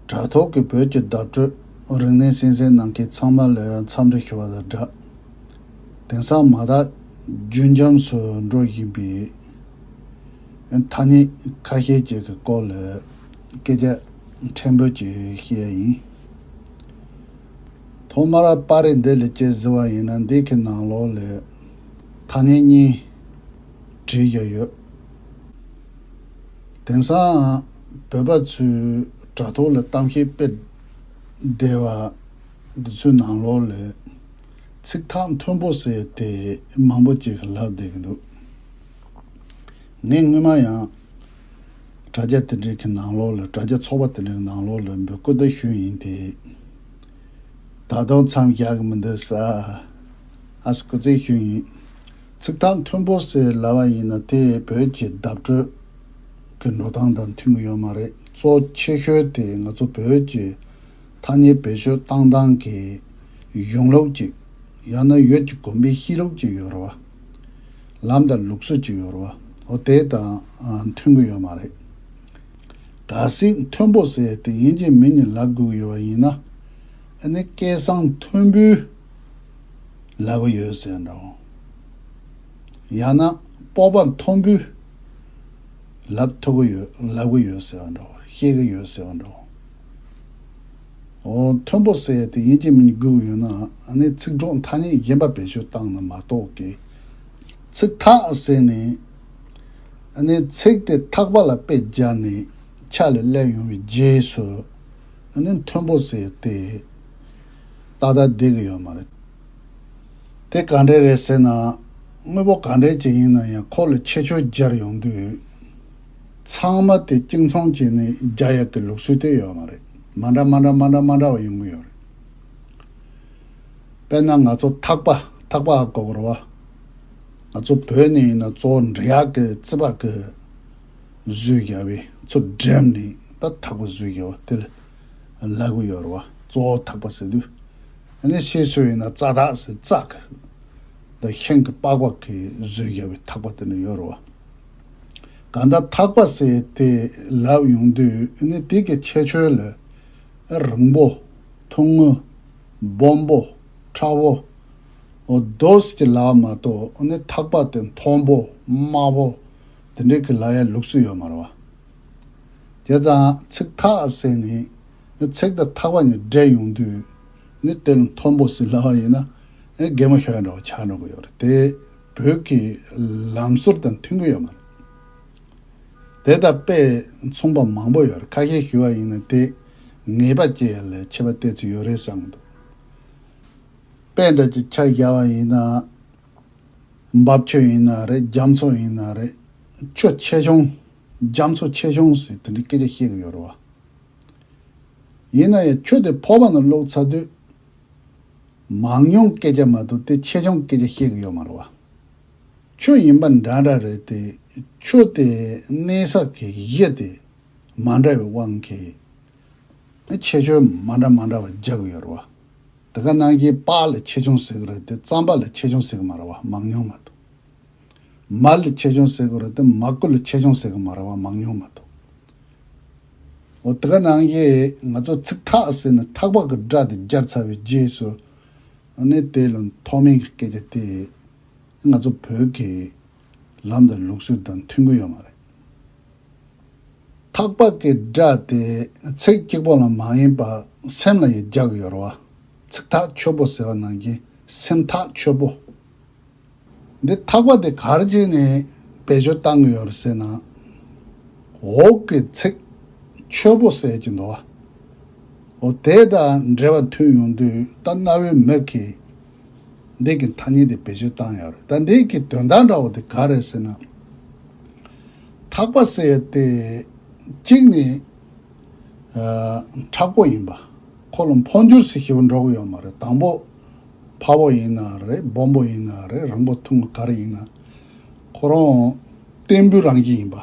དྲ་ཐོག་གི་བོད་ཀྱི་བརྡ་སྤྲོད་རིག་གནས་གསན་གསན་གནང་མཁན་ཚང་མ་ལོས་འཚམས་འདྲི་ཞུ་བ་དང་སྦྲགས། དེང་སང་མ་དག་རྒྱུན་འབྱམས་སུ་འགྲོ་བཞིན་པའི་ཐ་སྙད་ཁ་ཤས་ཅིག་གི་སྐོར་ལ་སྐད་ཆ་ཕྲན་བུ་ཅིག་བཤད་ཡ་ཡིན། ཐོག་མར་པར་རིས་འདི་ལས་དཔྱད་ཟིན་བ་ཡིན་ན་འདི་གི་ནང་ལོགས་ལས་ཐ་སྙད་གཉིས་བྲིས་བཞག་ཡོད། དེང་སང་བོད་པ་ཚོའི་དྲ་ཐོག་ལ་གཏམ་བཤད་སྤེལ་བསྡད་པ་འདི་ཚོའི་ནང་ལོགས་ལས་ཚིག་ཐག་མཐོན་པོ་ཟེར་དེ་མང་པོ་ཅིག་ལབ་བསྡད་ཀྱི་འདུག་ངས་སྔོན་མ་ཡང་དྲ་རྒྱ་དེ་འདྲའི་གི་ནང་ལོགས་ལ་དྲ་རྒྱ་ཚོགས་པ་དེ་འདྲའི་གི་ནང་ལོགས་ལ་འབོད་བསྐུལ་ད་ཞུས་ཡིན་དེ། ད་དུང་མཚམས་བཞག་གི་མི་འདུག་ས་ཨ་སྐུ་རྩེད་ཞུས་ཡིན། ཚིག་ཐག་མཐོན་པོ་ཟེར་སླ་བ་ཡིན་ན་དེ་བོད་ཀྱི་བརྡ་སྤྲོད་ཀྱི་འགྲོ་སྟངས་དང་མཐུན་གྱི་ཡོད་མ་རེད་གཙོ་ཆེ་ཤོས་དེ་ང་ཚོ་བོད་ཀྱི་ཐ་སྙད་བེད་སྤྱོད་བཏང་སྟངས་ཀྱི་གཞུང་ལུགས་ཅིག་ཡང་ན་ཡོད་ཀྱི་གོམས་པའི་གཤིས་ལུགས་ཅིག་ཡོད་རེད་བ། ལམ་དང་ལུགས་སྲོལ་ཅིག་ཡོད་རེད་བ་འོ་དེ་དང་མཐུན་གྱི་ཡོད་མ་རེད། ག་ཟིག་མཐོན་པོ་ཟེར་དེ་ཡིན་གྱི་མིན་ནི་ལབ་དགོས་ཀྱི་ཡོད་བ་ཡིན་ན་ཨ་ནི་སྐད་གསང་མཐོན་པོའི། ལབ་པ་ཡོད་ཟེར་འདྲ་བོ། ཡང་ན་སྤོབས་པ་མཐོན་པོས་ལབ་ཐུབ་ཀྱི་ཡོད་ལབ་ཀྱི་ཡོད་ཟེར་བ་འདྲ་བོ་ཤེས་ཀྱི་ཡོད་ཟེར་བ་འདྲ་བོ། འོ་མཐོན་པོ་ཟེར་དེ་ཡིན་གྱི་མིན་སྒུག་ཡོད་ན་ནི་ཚིག་གྲོགས་མཐའ་གཉིས་རྒན་པ་བེད་སྤྱོད་བཏང་ན་མ་གཏོགས་ཀྱི། ཚིག་ཐག་ཟེར་ནས་ནི་ཚིག་དེ་ཐག་པ་ལ་དཔེ་སྦྱར་ནས་ཕྱག་ལས་སླད་ཡོང་བའི་རྗེས་སུ་ནི་མཐོན་པོ་ཟེར་ཏེ། ཏག་ཏག་བསྡད་ཀྱི་ཡོད་མ་རེད། དེ་ག་འདྲས་རེད་ཟེར་ན། དངོས་པོ་ག་འདྲས་ཅིག་ཡིན་ན་ཡང་ཁོག་ལ་ཆེ་ཆུང་སྦྱར་ཡོང་དུས། ཚང་མ་དེ་གཅིག་མཚུངས་ཀྱི་ནི་རྒྱ་ཡག་གི་ལུགས་སྲོལ་དེ་ཡོད་མ་རེད། མ་འདྲ་མ་འདྲ་མ་འདྲ་མ་འདྲ་བ་ཡོང་གི་ཡོད་རེད། དཔེར་ན་ང་ཚོ་ཐག་པ་ཐག་པ་ཨ་ཀོ་བོར་བ། ང་ཚོ་བོད་ནས་ཡིན་ན་གཙོ་བོ་འབྲི་གཡག་གི་རྩི་བག་གིས་བཟོས་བརྒྱབ་བས་ཚུར་སྒྲེམས་ནས་ད་ཐག་པ་བཟོས་བརྒྱབ་བ་དེ་ལ། ལག་གཡོར་བ་གཙོ་བོ་ཐག་པ་ཟེར་དུས་ནི་ཤེས་སྲོལ་ཡིན་ན་རྩ་ཐག་ཟེར་རྩ་ཁ་འདི་ཤིང་གི་པགས་པ་གིས་བཟོས་རྒྱ་བའི་ཐག་པ་དེ་ནི་གཡོར་བ་ག་འདྲ་ཐག་པ་ཟེར་དེ་ལབ་ཡོང་དུས་ནི་དེ་གི་ཁྱད་ཆོས་ལ་རིང་པོ་ཐུང་ངུ་སྦོམ་པོ་ཕྲ་བོ་རྡོས་ཀྱི་ལག་མ་གཏོགས་ནི་ཐག་པ་དེ་མཐོན་པོ་དམའ་བོ་དེ་འདྲའི་གི་ལག་ཡ་ལུགས་སུ་ཡོད་མ་རེད་བ། དེ་ཙང་ཚིག་ཐག་བསྲེས་ནས་ནི་ཚེག་དང་ཐག་པ་ནི་སྦྲེལ་ཡོང་དུས་ནི་དེ་རུ་མཐོན་པོ་ཟིན་སླ་བ་ཡིན་ན་རྒན་མོ་ཤ་ཁ་འདྲ་བ་ཆགས་འགྲོ་གི་ཡོད་རེད་དེ་བོད་ཀྱི་ལམ་སྲོལ་དང་མཐུན་གི་ཡོད་མ་རེད། དེ་དང་དཔེ་མཚུངས་པ་མང་པོ་ཡོད་རེད་ཁ་ཤས་ཞུ་བ་ཡིན་ན་དེ་ངེས་པ་ཅི་ཡང་ལས་ཆེ་བ་བལྟས་ཚུལ་ཡོད་རེད་བསམ་གི་འདུག་དཔེ་འདྲ་ཅིག་ཆ་བཞག་པ་ཡིན་ན་འབབ་ཆུ་ཡིན་ན་རེད་རྒྱ་མཚོ་ཡིན་ན་རེད་ཆུ་ཆེ་ཆུང་རྒྱ་མཚོ་ཆེ་ཆུང་སུས་དེ་འདྲའི་སྐད་ཆ་བཤད་གི་ཡོད་རེད་བ། ཡིན་ན་ཡང་ཁྱོད་དེ་ཕོར་པ་ན་ལོག་ཚར་དུས། མང་ཉུང་སྐད་ཆ་མ་གཏོགས་དེ་ཆེ་ཆུང་སྐད་ཆ་བཤད་གི་ཡོད་མ་རེད་བ། ཁྱོད་ཡིན་པ་འདྲ་འདྲ་རེད་དེ་ཁྱོད་དེ་གནས་ས་གི་གཞི་དེ་མ་འདྲ་བའི་དབང་གིས། ཁྱད་ཆོས་མ་འདྲ་མ་འདྲ་བ་རྒྱག་གི་ཡོད་རེད་བ། དེ་ག་ནང་གི་པགས་ལ་ཆེ་ཆུང་ཟེར་གི་རེད་དེ་རྩམ་པ་ལ་ཆེ་ཆུང་ཟེར་གི་མ་རེད་བ་མང་ཉུང་མ་གཏོགས། མར་ལ་ཆེ་ཆུང་ཟེར་གི་རེད་དེ་མ་ཀུ་ལ་ཆེ་ཆུང་ཟེར་གི་མ་རེད་བ་མང་ཉུང་མ་གཏོགས། འོ་དེ་ག་ནང་བཞིན་ང་ཚོ་ཚིག་ཐག་ཟེར་ནས་ཐག་པག་གི་སྒྲ་དེ་སྦྱར་ཚར་བའི་རྗེས་སུ་ནི་དེ་ལ་ཐོག་མེད་ཀྱི་སྐད་ཆ་དེ་ང་ཚོ་བོད་ཀྱི་ལམ་དང་ལུགས་སྲོལ་དང་མཐུན་གི་ཡོད་མ་རེད། ཐག་པག་གི་སྒྲ་དེ་ཚིག་གཅིག་པོ་ལ་མ་ཡིན་པར་སེམས་ལ་ཡི་རྒྱག་གི་ཡོད་རེད་བ། ཚིག་ཐག་ཆོད་པོ་ཟེར་བ་ནང་བཞིན་སེམས་ཐག་ཆོད་པོ། འདི་ཐག་པ་དེ་གར་བརྗེས་ནས་བེད་སྤྱོད་བཏང་གི་ཡོད་ཟེར་ན། འོག་གི་ཚིག་འཆོལ་པོ་གསལ་གྱི་འདུག་ཨོ། དེ་དང་འབྲེལ་བ་མཐུན་ཡོང་དུས་ད་གནའ་བོའི་མིག་གིས་འདི་གི་ཐ་སྙད་དེ་བེད་སྤྱོད་བཏང་ཡོད་རེད་ད་འདི་གི་དོན་དག་འདྲ་བོ་དེ་ག་རེད་ཟེར་ན། ཐག་པ་གསལ་ཏེ། གཅིག་ནི། ཨ། དྲག་པོ་ཡིན་པ། ཁོ་ལ་འཕོ་འགྱུར་སི་ཞིག་འགྲོ་གི་ཡོད་མ་རེད་དང་པོ། ཕ་བོ་ཡིན་ན་རེད་སྦོམ་པོ་ཡིན་ན་རེད་རང་བོ་ཐུང་ག་རེ་ཡིན་ན་ཁོ་རང་བསྟན་འབུལ་རང་བཞིན་ཡིན་པ།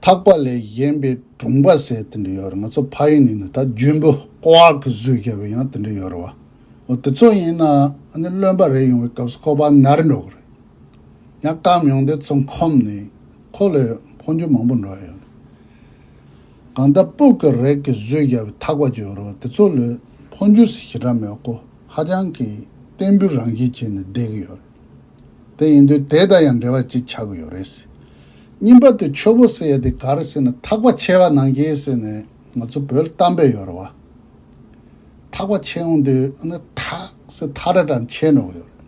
ཐག་པ་ལས་གཞན་པའི་གྲུང་པ་ཟེར་དེ་འདྲ་ཡོད་རེད་ང་ཚོ་ཕ་ཡུལ་ནས་ནི་ད་རྒྱུན་བུ་ཀོའག་གི་གཟུགས་བྱས་པའི་ཡང་དེ་འདྲ་ཡོད་རེད་བ། འོ་དེ་ཚོ་ཡིན་ན་ནི་བློན་པ་རེ་ཡོང་བའི་སྐབས་སུ་ཁོ་པ་ནར་འགྲོ་གི་རེད། ཡང་སྐམ་ཡོང་དེ་ཚོ་འཁོམས་ནས་ཁོ་ལས་འཕོ་འགྱུར་མང་པོ་འགྲོ་ཡ་ཡོད་རེད། གང་ལྟ་སྤུག་གི་རེག་གི་བཟོས་རྒྱ་བའི་ཐག་པ་གྱོན་རོ་དེ་ཚོ་ལོས་འཕོ་འགྱུར་སི་ཞི་དྲ་མོའི་སྐོ་ཧ་ཅང་གི་བརྟན་པོའི་རང་བཞིན་བྱས་ནས་བསྡད་གི་ཡོད་རེད་དེ་ཡིན་དུས་དེ་དང་ཡང་འབྲེལ་བ་གཅིག་ཆགས་གི་ཡོད་རེད་སི་གཉིས་པ་དེ་ཆོས་པོ་ཟེར་ཡ་དེ་ག་རེ་ཟེར་ན་ཐག་པ་ཆད་པ་ནང་སྐྱེས་ཟེར་ནས་ང་ཚོ་བོད་གཏམ་དཔེ་ཡོད་རེད་བ་ཐག་པ་ཆད་འོང་དུས་ཨ་ནི་ཐག་སི་ཐག་ར་དྲ་ནས་ཆད་འགྲོ་གི་ཡོད་རེད།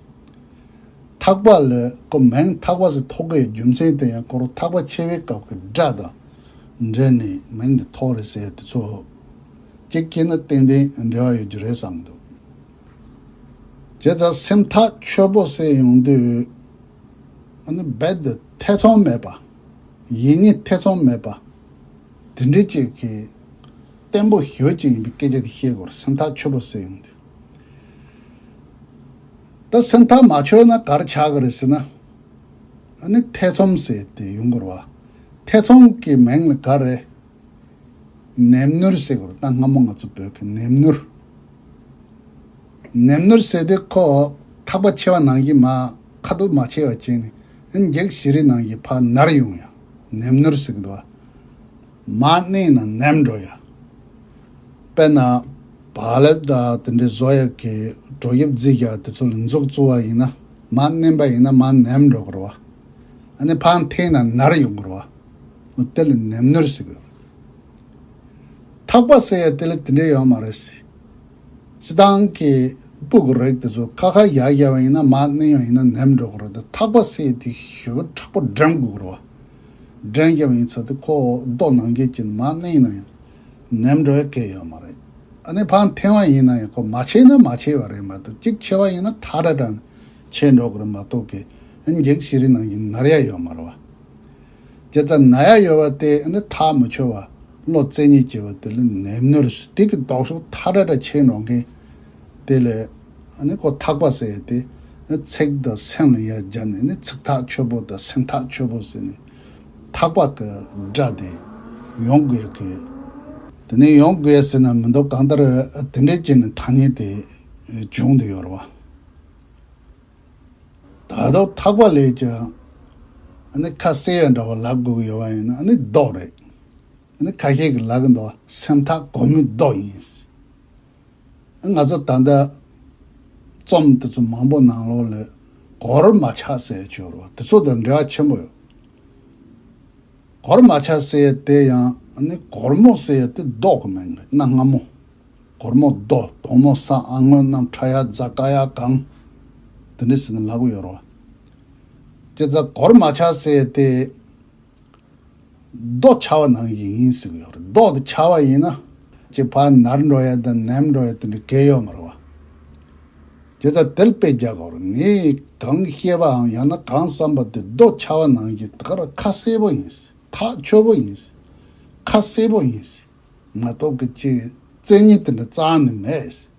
འཐག་པ་ལས་ཀོ་མེང་འཐག་པ་སོགས་ཐོག་ཁའི་རྒྱུ་མཚན་དེ་ཡང་སྐོར་འཐག་པ་ཆེ་བའི་སྐབས་ཀྱི་སྒྲ་དང་འབྲེལ་ནས་མིང་འདི་ཐོགས་རེད་ཟེར་དེ་ཚོ་ཀྱི་དཀྱིལ་ན་ཏན་ཏན་འབྲེལ་བ་ཡོད་རྒྱུ་རེད་བསམ་འདུག་ཁྱེད་ཚ་སེམས་ཐག་ཆོད་པོ་བསད་ཡོང་དུས་ཨ་ནི་རྦད་དུ་ཐེ་ཚོམ་མེད་པ་ཡིད་གཉིས་ཐེ་ཚོམ་མེད་པ་དེ་འདྲས་ཅིག་གིས་བརྟན་པོ་ཞོད་ཅིག་ཡིན་པའི་སྐད་ཆ་དེ་བཤད་དགོས་རེད་སེམས་ཐག་ཆོད་པོ་བསད་ཡོང་དུས། ད་སེམས་ཐག་མ་ཆོད་ན་གར་ཆག་གི་རེད་ཟེར་ན། ཨ་ནི་ཐེ་ཚོམ་ཟེར་ཏེ་ཡུང་གུར་བ་ཐེ་ཚོམ་གྱི་མིང་ལ་ག་རེ། ནེམ་ནུར་ཟེར་གི་རེད་ད་སྔ་མོ་ང་ཚོ་བོད་ཀྱི་ནེམ་ནུར། ནེམ་ནུར་ཟེར་དུས་ཁོ་ཐག་པ་ཆེ་བ་ནང་བཞིན་མ་ཁ་དུག་མ་ཆེ་བ་ཅན་ནི་ཨིན་འགྱིག་ཞི་རི་ནང་བཞིན་ཕར་ནར་ཡོང་ཡང་ནེམ་ནུར་ཟེར་གི་འདུག་བ། མ་གནས་ན་ནེམ་འགྲོ་ཡ། དཔེར་ན། བ་ལེབ་དང་དེ་འདྲའི་བཟོ་ཡག་གི་གྲོ་དབྱིབས་རྫིས་རྒྱག་དེ་ཚོ་ལ་མཛུབ་བཙུགས་བ་ཡིན་ན་མ་གནས་པ་ཡིན་ན་མ་ནེམ་འགྲོ་དགོས། བ་ནི་འཕང་འཐེན་ན་ནར་ཡོང་དགོས། དེ་ལ་ནེམ་ནུར་ཟེར་དགོས། ཐག་པ་ཟེར་ཡ་དེ་ལ་དེ་འདྲའི་ཡོད་མ་རེད། སྤྱི་སྟངས་ཀྱི་སྤུ་གུ་རེག་དེ་ཚོ་ཁ་ཁ་ཡག་ཡག་བ་ཡིན་ན་མ་གནས་ཡོང་ཡིན་ན་ནེམ་འགྲོ་དགོས། ཐག་པ་ཟེར་དུས་ཞོ་ཕྲག་པོ་འགྲེམ་དགོས། འགྲན་རྒྱབ་ཡིན་ཚོད་དུ་ཁོ་རྡོ་ནང་འགྱེལ་གྱིན་མ་གནས་ན་ཡང་ནེམ་འགྲོ་ཡ་ཀེ་ཡོད་མ་རེད། ཨ་ནེ་ཕང་འཐེན་བ་ཡིན་ན་ཡང་ཁོ་མ་ཆེ་ན་མ་ཆེ་བ་རེད་མ་གཏོགས་གཅིག་ཆེ་བ་ཡིན་ན་ཐ་དྲ་དྲ་ནས་ཆས་འགྲོ་གི་རེད་མ་གཏོགས་ཀེ་འགྱིག་བྱི་རི་ནང་གྱིན་ནར་ཡ་ཡོད་མ་རེད་བ། ཀེ་རྩ་ན་ཡ་ཡོད་བ་དེ་ཨ་ནེ་ཐག་མི་ཆོད་བ་བློ་རྩེ་གཉིས་སྐྱེ་བ་དེ་ལས་ནེམ་ནུར་སུ་དེ་གི་ལྡོག་ཕྱོགས་ཐ་དྲ་དྲ་ཆས་འགྲོ་མཁན། དེ་ལས་ནི་ཁོ་ཐག་པ་ཟེར་ཏེ། ཚེག་དང་སེང་ལ་ཡར་སྦྱར་ནས་ནི་ཚིག་ཐག་ཆོད་པོ་དང་སེང་ཐག་ཆོད་པོ་ཟེར་ནས་ཐག་པ་དེ་སྦྲ་སྟེ་ཡོང་དགོས་ཀྱི། དེ་ནས་ཡོང་དགོས་ཟེར་ན་མི་འདུག་གང་ལྟར་དེ་འདྲའི་རྐྱེན་ནི་ཐ་སྙད་དེ་བྱུང་དུ་ཡོད་རེད། ད་དུང་ཐག་པ་ལས་ཀྱང་ནི་ཁ་གསལ་ཡང་འདྲ་བ་ལབ་དགོས་ཀྱི་ཡོད་པ་ཡིན་ན་ནི་ལྡོག་རེད། ཁ་ཤས་ཀྱི་ལག་གི་འདོགས་སེང་ཐག་གོ་མི་ལྡོག་ཡིན། ང་ཚོ་ད་ལྟ་རྩོམ་དེ་ཚོ་མང་པོ་ནང་ལོགས་ལས་གོར་མ་ཆག་སའི་ཆོས་རོ་དེ་ཚོ་དང་འབྲེལ་བ་ཆེན་པོ་ཡོད། གོར་མ་ཆག་སའི་དེ་ཡང་ནི་གོར་མོ་སའི་དེ་ལྡོག་གི་མིང་རེད་གནའ་སྔ་མོ་གོར་མོ་རྡོ་དོང་མོ་ས་ཨ་སྔོན་རྣམས་ཁྲ་ཡག་རྫ་ཀ་ཡག་གངས་དེ་འདྲའི་ཟེར་ནས་ལག་པ་ཡོད་རོ། ཀྱེ་རྫ་གོར་མ་ཆག་སའི་དེ། ཟློག་བྱ་བ་ནང་བཞིན་ཡིན་ཟེར་གྱི་ཡོད་རེད་ཟློག་དེ་བྱ་བ་ཡིན་ན། ཀྱི་བར་ནར་འགྲོ་ཡ་དང་ནེམ་འགྲོ་ཡ་དེ་འདྲའི་སྐད་ཡོད་མ་རེད་བ། ཀྱི་རྩ་དལ་སྤེལ་རྒྱག་གོ་རེད་ངས་གང་ཤེས་པའམ་ཡང་ན་གང་བསམ་པ་དེ་ཟློག་བྱ་བ་ནང་བཞིན་ད་གར་ཁ་གསལ་པོ་ཡིན་ཟེར་ཐག་ཆོད་པོ་ཡིན་ཟེར་ཁ་གསལ་པོ་ཡིན་ཟེར་མ་གཏོགས་ཀྱི་ཀྱི་རྩལ་ཉིད་དེ་འདྲ་གཙང་ནི་མེད་ཟེར།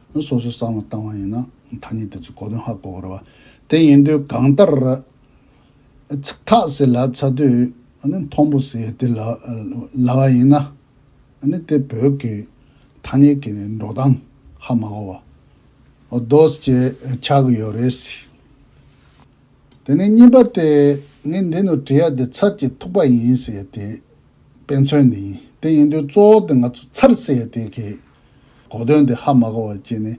ནི་སོ་སོའི་གསང་བ་བཏང་བ་ཡིན་ན་ཐ་སྙད་དེ་ཚོའི་གོ་དོན་ཧ་གོ་བར་བ་དེ་ཡིན་དུས་གང་ལྟར་ར་ཚིག་ཐག་སེ་ལ་ཚ་དུས་ནི་མཐོང་པོ་སེ་ཏི་ལ་ལ་བ་ཡིན་ནི་དེ་བོད་ཀྱི་ཐ་སྙད་ཀྱི་འགྲོ་སྟངས་ཧ་མ་གོ་བ་རྡོ་སྐྱེས་ཆགས་ཡོད་རེད་སྲིད། དེ་ནས་གཉིས་པ་སྟེ། ངས་འདི་ནི་བྲི་ཡ་དེ་ཚར་གྱི་ཐུག་པ་ཡིན་ཟེར་ཡ་དེ། དཔེ་མཚོན་ནི་ཡིན་དེ་ཡིན་དུས་གཙོ་བོ་དེ་ང་ཚོ་ཚར་ཟེར་ཡ་དེ་གི། གོ་དོན་དེ་ཧ་མ་གོ་བ་ཅི་ནི།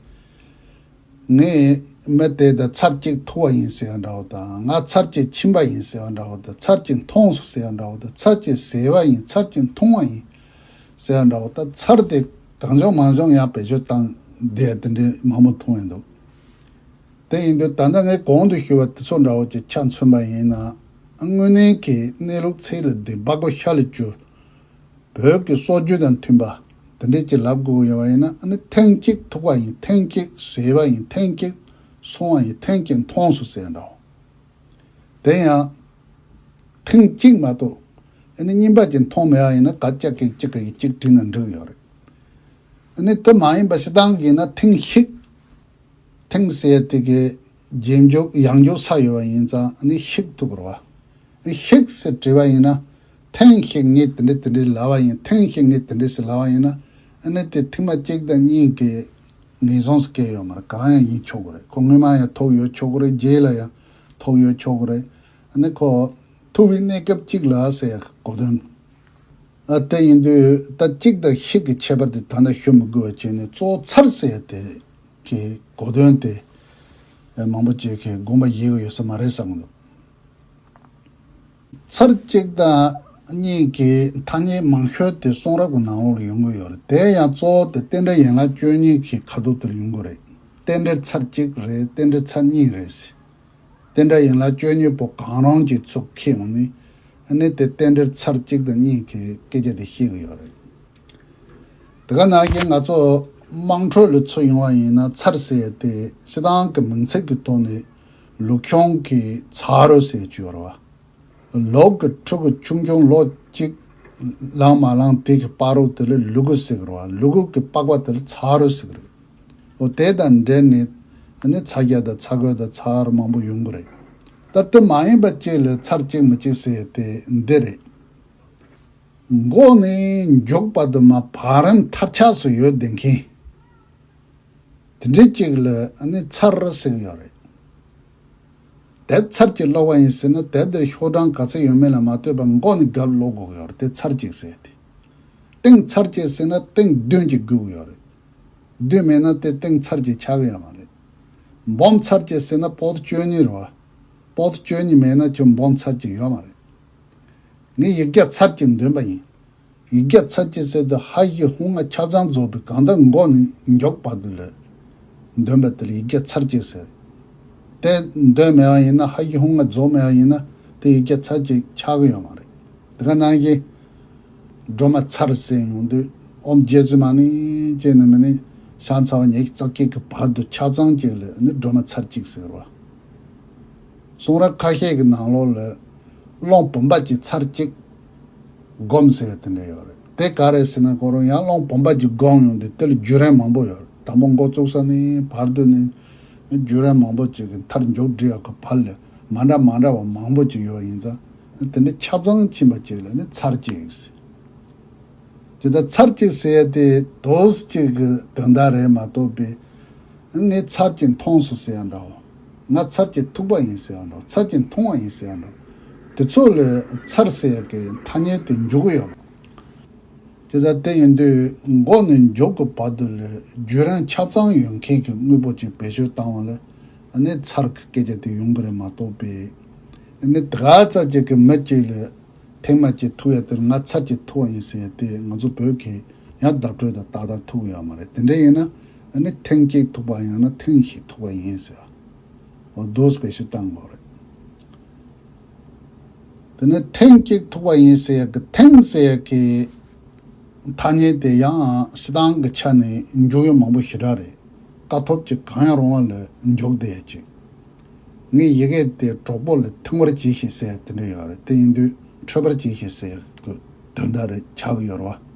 ངས་མི་དེ་དང་ཚར་གཅིག་ཐུག་བ་ཡིན་ཟེར་བ་འདྲ་བོ་དང་ང་ཚར་གཅིག་ཕྱིན་པ་ཡིན་ཟེར་བ་འདྲ་བོ་དང་ཚར་གཅིག་མཐོང་སོང་ཟེར་བ་འདྲ་བོ་དང་ཚར་གཅིག་ཟེར་བ་ཡིན་ཚར་གཅིག་མཐོང་བ་ཡིན་ཟེར་བ་འདྲ་བོ་དང་ཚར་དེ་གང་བྱུང་མང་བྱུང་ཡང་བེད་སྤྱོད་བཏང་བསྡད་དེ་འདྲའི་མང་པོ་མཐོང་ཡ་འདུག། དེ་ཡིན་དུས་ད་ལྟ་ངས་གོང་དུ་ཞུས་པ་དེ་ཚོ་འདྲ་བོ་ཅིག་ཆ་མཚོན་པ་ཡིན་ན། དངོས་གནས་ཀྱི་གནས་ལུགས་ཚེ་ལ་འདི་འབག་གོ་ཤ་ལ་བསྐྱུར། བོད་ཀྱི་སྲོལ་རྒྱུན་དང་མཐུན་པ་དེ་འདྲས་ཅིག་ལབ་དགོས་ཡོད་པ་ཡིན་ན་ཨ་ནི་ཐེངས་གཅིག་ཐུག་པ་ཡིན་ཐེངས་གཅིག་བཟོས་པ་ཡིན་ཐེངས་གཅིག་སོང་བ་ཡིན་ཐེངས་གཅིག་མཐོང་སོ་ཟེར་འདྲ་བོ། དེ་ཡང། ཐེངས་གཅིག་མ་གཏོགས་ཨ་ནི་རྙིང་པ་ཅིག་མཐོང་མེད་པ་ཡིན་ན་ག་སྐྱག་གིས་གཅིག་གིས་གཅིག་བྲིས་ན་འགྲིག་ཡོད་རེད། ཨ་ནི་དེ་མ་ཡིན་པ་ཞེ་སྡང་གིས་ན་ཐེངས་ཤིག། དེང་གསལ་དེ་གའི་རྗེས་འཇུག་ཡང་འཇུག་ས་ཡོད་པ་ཡིན་ཙང་ནི་ཤིག་ཐུབ་པར་བ། ཤིག་ཟེར་བྲིས་པ་ཡིན་ན་ཐེངས་ཤིག་ངས་དེ་འདྲི་དེ་འདྲི་ལབ་བ་ཡིན་ཐེངས་ཤིག་ངས་དེ་འདྲི་ཟེར་ལབ་བ་ཡིན་ན་ནི་དེ་ཐེངས་མ་གཅིག་དང་གཉིས་ཀས་ངེས་བཟུང་སུ་སྐྱེལ་ཡོད་མ་རེད་གང་ཡང་ཡིན་ཆོག་གི་རེད་ཁོ་སྔོན་མ་ཡང་ཐོག་ཡོད་ཆོག་གི་རེད་རྗེས་ལ་ཡང་ཐོག་ཡོད་ཆོག་གི་རེད་ནི་ཁོ་ཐུབ་པའི་གནས་སྐབས་གཅིག་ལ་ཟེར་གོ་དོན་དེ་ཡིན་དུས་ད་གཅིག་དང་ཤིག་གི་ཁྱད་པར་དེ་ད་ལྟ་ཤོད་མི་དགོས་པ་བྱས་ནས་གཙོ་ཚར་ཟེར་ཡ་དེ་རེད། ཀྱི་གོ་དོན་དེ་མང་པོ་སྐྱེས་མཁན་དགོངས་པ་ཡིད་ཀྱི་ཡོད་ས་མ་རེད་བསམ་གྱི་འདུག། ཚར་གཅིག་དང་གཉིས་ཀྱི་ཐ་སྙད་མང་ཤོས་དེ་གསུང་རབ་ཀྱི་ནང་ལོགས་ལ་ཡོང་གི་ཡོད་རེད་དེ་ཡང་གཙོ་བོ་དེ་རྟེན་འབྲེལ་ཡན་ལག་བཅུ་གཉིས་ཀྱི་ཁ་དོག་དེར་ཡོང་གི་རེད་རྟེན་འབྲེལ་ཚར་གཅིག་རེད་རྟེན་འབྲེལ་ཚར་གཉིས་རེད་ཟེར། རྟེན་འབྲེལ་ཡན་ལག་བཅོ་གཉིས་པོ་གང་རུང་གྱི་ཚུགས་ཁེ་ཡོང་ནི་ནི་དེ་རྟེན་འབྲེལ་ཚར་གཅིག་དང་གཉིས་ཀྱི་སྐད་ཆ་དེ་ཤེས་གི་ཡོད་རེད། དེ་ག་ནང་བཞིན་ང་ཚོ་དམངས་ཁྲོད་ལས་འཚོལ་ཡོང་བ་ཡིན་ན་ཚར་བསད་དེ་སྤྱི་བཏང་གི་མིང་ཚིག་གི་ཐོག་ནས་ལུག་གྱོང་གི་ཚ་རོ་ཟས་སྤྱོར་བ། ལོག་གི་ཕྲུ་གུ་ཆུང་ཆུང་ལོ་གཅིག་ལང་མ་ལང་དེ་གི་པགས་རོ་དེ་ལ་ལུ་གུ་ཟེགས་རོ་བ་ལུ་གུ་གི་པགས་པ་དེ་ལ་ཚ་རོ་ཟེགས་རེད། འོ་དེ་དང་འབྲེལ་ནས་ནི་ཚ་རྒྱ་དང་ཚ་གོས་དང་ཚ་ཨར་མང་པོ་ཡོང་གི་རེད། ད་དེ་མ་ཡིན་པ་གཅིག་ལས་ཚར་གཅིག་མི་གཅིག་ཟེར་དེ་འདི་རེད། མགོ་ནས་མགྱོགས་པ་དུ་མ་བག་རིམ་མཐར་ཆགས་སུ་ཡོད་བསྡད་མཁན་དེ་འདྲའི་གཅིག་ལ་ནི་ཚར་ཟེར་གི་ཡོད་རེད། དེ་ཚར་གཅིག་ཀློག་པ་ཡིན་ཟེར་ན་དེབ་འདིར་ཤོག་གྲངས་ག་ཚོད་ཡོད་མེད་ལ་མ་ལྟོས་པར་མགོ་ནས་དགའ་ཀློག་དགོས་ཀྱི་ཡོད་རེད་དེ་ཚར་གཅིག་ཟེར་ཏེ། སྟེང་ཚར་གཅིག་ཟེར་ན་སྟེང་བདུན་གཅིག་དགོས་ཀྱི་ཡོད་རེད། བདུན་མེད་ན་དེ་སྟེང་ཚར་གཅིག་ཆགས་ཀྱི་ཡོད་མ་རེད། འབུམ་ཚར་གཅིག་ཟེར་ན་པོད་བཅུ་གཉིས་རེད་བ། པོད་བཅུ་གཉིས་མེད་ན་ཁྱོད་འབུམ་ཚར་གཅིག་ཡོད་མ་རེད། ངས་ཡིག་བརྒྱ་ཚར་གཅིག་འདོན་པ་ཡིན། ཡིག་བརྒྱ་ཚར་གཅིག་བསྲེས་དུས་ཧ་ཧི་ཧུ་ང་ཆ་ཚང་རྫོགས་པའི་གང་ཟླ་མགོ་མགྱོགས་བར་དུ་ལོས། འདོན་པ་དེ་ལ་ཡིག་བརྒྱ་ཚར་གཅིག་ཟེར། དེ་འདོན་མེད་པ་ཡིན་ན་ཧ་ཧི་ཧུ་ང་རྫོགས་མེད་པ་ཡིན་ན་དེ་ཡིག་བརྒྱ་ཚར་གཅིག་ཆགས་ཀྱི་ཡོད་མ་རེད། དེ་ག་ནང་བཞིན། སྒྲོལ་མ་ཚར་བསྲེས་མྱོང་དུས་ཨོམ་བརྒྱད་ཚུལ་མ་ནི་ཅེས་ནི་མི་ནི་ཤ་ཚ་བ་ཉེ་ཁྱི་རྩ་སྐྱིད་ཀྱི་བར་དུ་ཆ་ཚང་གཅིག་ལོས་ནི་སྒྲོལ་མ་ཚར་གཅིག་ཟེར་བ། གསུང་རབ་ཁ་ཤས་ཀྱི་ནང་ལོག་ལོས་སློང་བུམ་པ་གྱི་ཚར་གཅིག་སྒོམས་ཟེར་དེ་འདྲ་ཡོད་རེད་དེ་ག་རེད་ཟེར་ན་གོ་རོ་ཡང་སློང་བུམ་པ་གྱི་སྒོམས་ཡོང་དུས་དེ་ལ་བརྒྱུད་རན་མང་པོ་ཡོད་དམ་པོ་མགོ་བཙུགས་ས་ནི་བར་དུ་ནི་བརྒྱུད་རན་མང་པོ་ཅིག་གི་མཐར་མགྱོགས་འགྲིལ་ཡག་གི་བར་ལས་མ་འདྲ་མ་འདྲ་བ་མང་པོ་ཅིག་ཡོད་ཡིན་ཙང་དེ་འདྲ་ཁྱབ་ཚང་ཕྱིན་པ་ཅིག་ལ་ནི་ཚར་གཅིག་ཟེར་དེ་ད་ཚར་གཅིག་ཟེར་ཡ་དེ་དོས་གཅིག་གི་དོན་དག་རེད་མ་གཏོགས་པས་ངས་ཚར་གཅིག་མཐོང་སོང་ཟེར་ཡ་འདྲ་བོ། ང་ཚར་གྱིས་ཐུག་པ་ཡིན་ཟེར་བ་འདྲ་ཚར་གྱིས་མཐོང་བ་ཡིན་ཟེར་བ་འདྲ། དེ་ཚོ་ལས་ཚར་ཟེར་གྱི་ཐ་སྙད་དེ་འཇུག་གི་ཡོད། དེ་ཚ་དེ་ཡིན་དུས་འགོ་ནས་མགྱོགས་ཀྱི་བར་དུ་ལས་རྒྱུ་རང་ཁྱབ་ཚང་ཡོད་མཁན་གྱི་དངོས་པོ་གཅིག་བེད་སྤྱོད་བཏང་བ་ལས་ནི་ཚར་གྱི་སྐད་ཆ་དེ་ཡོང་གི་རེད་མ་གཏོགས་པས། ནི་དེ་ག་ཚ་གཅིག་གི་མི་གཅིག་ལས་ཐེངས་མ་གཅིག་ཐུག་ཡ་དེར་ང་ཚར་གྱིས་ཐུག་བ་ཡིན་ཟེར་ཡ་དེ་ང་ཚོ་བོད་གིས་ཡང་བརྡ་སྤྲོད་དང་ཏག་ཏག་ཐུག་གི་ཡོད་མ་རེད་དེ་འདྲ་ཡིན་ན། ཨ་ནི་ཐེངས་གཅིག་ཐུག་པ་ཡང་ན་ཐེངས་ཤིག་ཐུག་པ་ཡིན་ཟེར་བ། འོ་དོཟ་བེད་སྤྱོད་བཏང་དགོས་རེད། དེ་ནས་ཐེངས་གཅིག་ཐུག་པ་ཡིན་ཟེར་ཡག་གི་ཐེངས་ཟེར་ཡག་གི་ཐ་སྙད་དེ་ཡང་སྤྱི་བཏང་གི་ཆ་ནས་འཇུག་ཡུལ་མང་པོ་ཞེ་དྲག་རེད། དཀའ་ཐོབ་ཅིག་གང་ཡང་རུང་བ་ལ་འཇུག་བདེ་ཡ་ཅིག། ངས་ཡི་གེ་དེ་གྲོགས་པོ་ལ་ཐིང་བར་གྱིས་ཞེས་ཟེར་ཡག་དེ་འདྲ་ཡོད་རེད་དེ་ཡིན་དུས་འཕྲོད་པར་གྱིས་ཞེས་ཟེར་ཡག་གི་དོན་དག་རེད་བྱ་གི་ཡོད་རེད་བ།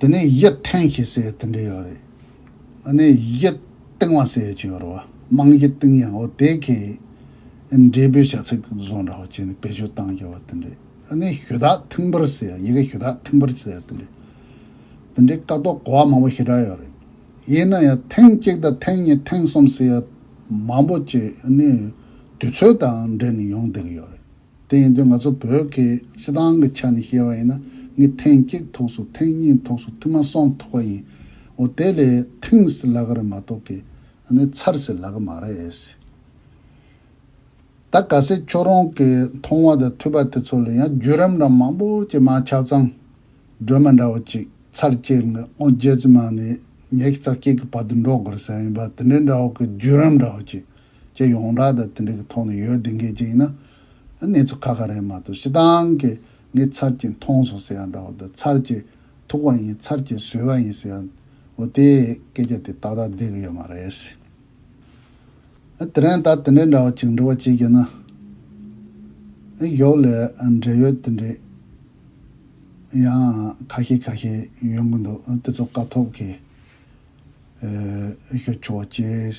དེ་ནས་ཡིད་འཐེན་ཞེས་ཟེར་བའི་དེ་འདྲ་ཡོད་རེད། ཨ་ནེ་ཡིད་གཏིང་བ་ཟེར་བའི་ཅིག་ཡོད་རེད་བ། དམངས་ཡིད་གཏིང་ཡང་ཨོ་དེ་གས། འབྲས་བུའི་བྱ་ཚིག་བཟོ་འདྲ་བ་བྱས་ནས་བེད་སྤྱོད་བཏང་རྒྱུ་བ་དེ་འདྲ། ཨ་ནེ་ཞུ་དག་ཐིང་པར་ཟེར་ཡི་གེ་ཞུ་དག་ཐིང་པར་ཟེར་དེ་འདྲ། དེ་འདྲའི་ཀ་ཏོག་གོ་བ་མང་པོ་ཞེ་དྲག་ཡོད་རེད། ཡིན་ན་ཡང་ཐེངས་གཅིག་དང་ཐེངས་གཉིས་ཐེངས་གསུམ་ཟེར་ཡ་མང་པོ་བྱས་ཨ་ནེ་དུས་ཚོད་དང་འབྲེལ་ནས་ཡོང་བསྡད་ཀྱི་ཡོད་རེད། དེ་ཡིན་དུས་ང་ཚོ་བོད་ཀྱི་སྤྱི་བཏང་གི་ཆ་ནས་བཤད་པ་ཡིན་ན་ངས་ཐེངས་གཅིག་ཐོགས་སུ་ཐེངས་གཉིས་ཐོགས་སུ་མཐུད་མ་སོང་ཐོགས་པ་ཡིན་འོ་དེ་ལས་ཐེངས་སི་ལ་ག་རེ་མ་ཐོགས་ཀི་ཨ་ནི་ཚར་སི་ལ་ག་མ་རེད། ད་ག་སེ་ཁྱོད་རང་གི་མཐོང་བ་དང་ཐོས་པ་དེ་ཚོ་ལས་ཡང་བརྒྱུད་རིམ་འདྲ་མང་པོ་ཅིག་མ་ཆགས་ཙང་སྒྲོལ་མ་འདྲ་བོ་ཅིག་ཚར་བཅད་ནས་ཨོ་རྒྱལ་རྩི་མང་ནས་ཉེ་ཁྱི་རྩ་སྐྱིད་ཀྱི་བར་དུ་འགྲོ་དགོས་རེད་ཟེར་ཡ་ཡིན་པ་དེ་འདྲའི་འདྲ་བོ་གི་བརྒྱུད་རིམ་འདྲ་བོ་ཅིག་ཅེས་ཡོངས་གྲགས་དང་དེ་འབྲེལ་གྱི་ཐོག་ནས་ཡོད་བདེན་སྐད་ཅིག་ཡིན་ན། གནས་ཚུལ་ཁ་ཁ་རེད་མ་གཏོགས་ཤི་ཏང་གིས་ངས་ཚར་གཅིག་མཐོང་སོང་ཟེར་ཡང་འདྲ་བ་དང་ཚར་གཅིག་ཐུག་པ་ཡིན་ཚར་གཅིག་བཟོས་པ་ཡིན་ཟེར་ཡང་འོ་དེ་སྐད་ཆ་དེ་ཏག་ཏག་བསྡད་ཀྱི་ཡོད་མ་རེད། དེ་རིང་ད་དེ་འདྲའི་འདྲ་བ་ཅིག་འབྲི་བ་ཅིག་ཡིན་ན། གཞོགས་ལས་འབྲེལ་ཡོད་དེ་འདྲའི་ཡང་ཁ་ཤས་ཁ་ཤས་ཡོང་གི་འདུག་དེ་ཚོ་དཀའ་ཐོབ་ཀྱིས་ཤོད་ཆོག་ཅེས།